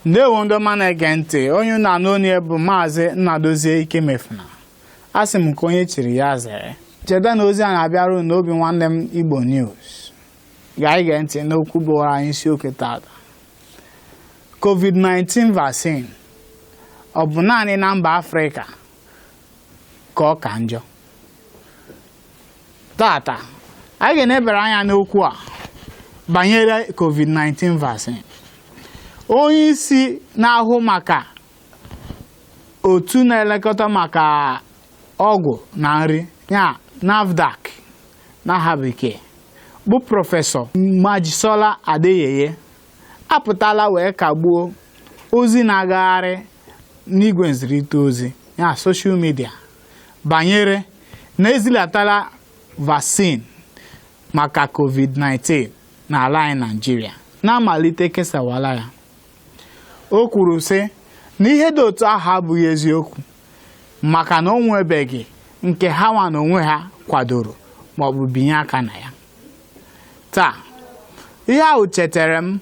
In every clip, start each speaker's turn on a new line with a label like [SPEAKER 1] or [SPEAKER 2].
[SPEAKER 1] ndewo ndị ọma na-ege ntị onye na-anụ onu ya bụ maazị Nnadozie Ikemefuna asị m ka onye chiri ya zere cheta na ozi a na-abịara unu na Obinwannem Igbo News gaa ige ntị n'okwu bụwara anyị isiokwu tata COVID-19 vaccine ọ bụ naanị na mba Afrịka ka ọ ka njọ tata anyị ga-enebere anya n'okwu a banyere covid-19 vaccine onye isi na-ahụ maka otu na-elekọta maka ọgwụ na nri ya NAFDAC n'aha bekee bụ prọfesọ Mojisola Adeyeye apụtala wee kagbuo ozi na-agagharị n'igwe nzirịta ozi ya soshal midia banyere na ezilatala vaccine maka covid-19 n'ala anyị Naịjirịa na amalite kesawala ya o kwuru sị na ihe dị otu ahụ abụghị eziokwu maka na o nwebeghị nke ha nwa na onwe ha kwadoro maọbụ binye aka na ya taa ihe ahụ chetara m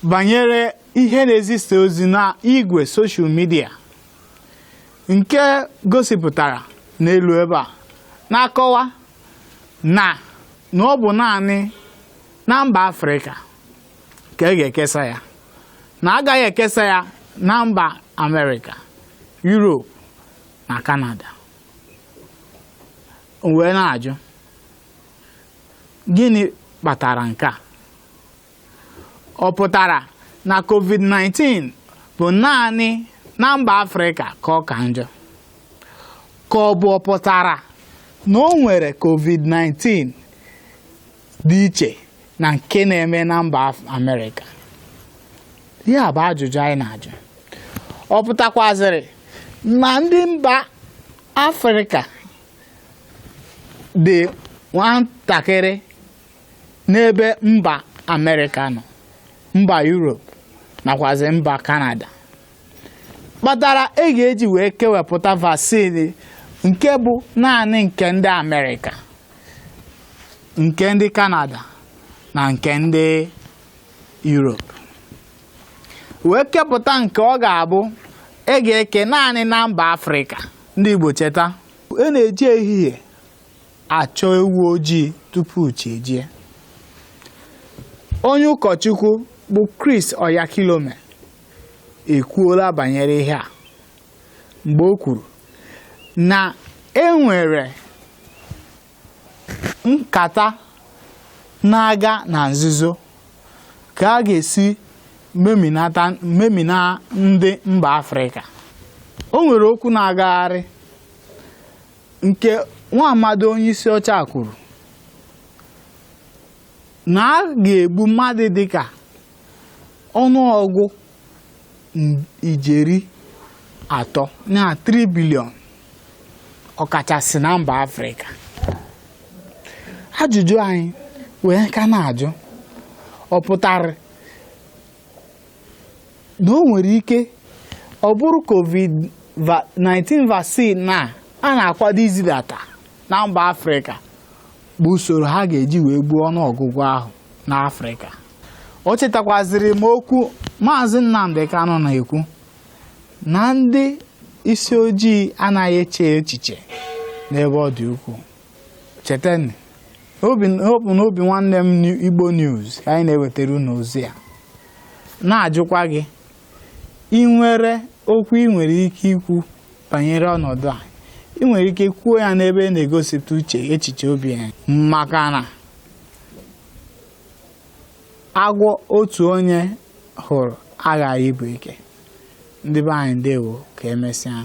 [SPEAKER 1] banyere ihe na-ezisa ozi na igwe soshal midia nke gosipụtara n'elu ebe a na-akọwa na na ọ bụ naanị na mba afrịka ka e ga-ekesa ya na agaghị ekesa ya na mba amerịka yuropu na kanada wee na-ajụ gịnị kpatara nke a ọ pụtara na covid-19 bụ naanị na mba afrịka ka ọ ka njọ ka ọ bụ ọ pụtara na o nwere covid-19 dị iche na nke na-eme na mba Af- amerịka ya bụ ajụjụ anyị na-ajụ ọ pụtakwazịrị na ndị mba afrịka dị nwatakịrị n'ebe mba amerịka nọ mba yuropu nakwazi mba kanada kpatara e ga-eji wee kewepụta vaccine nke bụ naanị nke ndị amerịka nke ndị kanada na nke ndị yuropu wee kepụta nke ọ ga-abụ e ga-eke naanị na mba afrịka ndị igbo cheta e na-eji ehihie achọ ewu ojii tupu chi ejie onye ụkọchukwu bụ Chris Oyakhilome ekwuola banyere ihe a mgbe o kwuru na enwere nkata na-aga na nzuzo ka a ga-esi memina ndị mba Afrịka o nwere okwu na-agagharị nke nwa amadi onye isi ọcha kwuru na a ga-egbu mmadụ dịka ọnụọgụ ijeri atọ na 3 billion ọkachasị na mba afrịka ajụjụ anyị wee ka na-ajụ ọ pụtara na o nwere ike ọ bụrụ covid-19 vaccine a a na-akwado izidata na mba afrịka bụ usoro ha ga-eji wee gbuo ọnụọgụgụ ahụ n'afrịka o chetakwaziri m okwu maazị nnamdị kanụ na-ekwu na ndị isi ojii anaghị eche echiche n'ebe ọ dị ukwuu chetanụ ọ bụ na Obinwannem igbo news ka anyị na-ewetara unu ozi a na-ajụkwa gị ị nwere okwu ị nwere ike ikwu banyere ọnọdụ a ị nwere ike kwuo ya n'ebe a na-egosipụta uche echiche obi ya maka na agwọ otu onye hụrụ aghaghị ịbụ eke ndị be anyị ndewo ka emesịa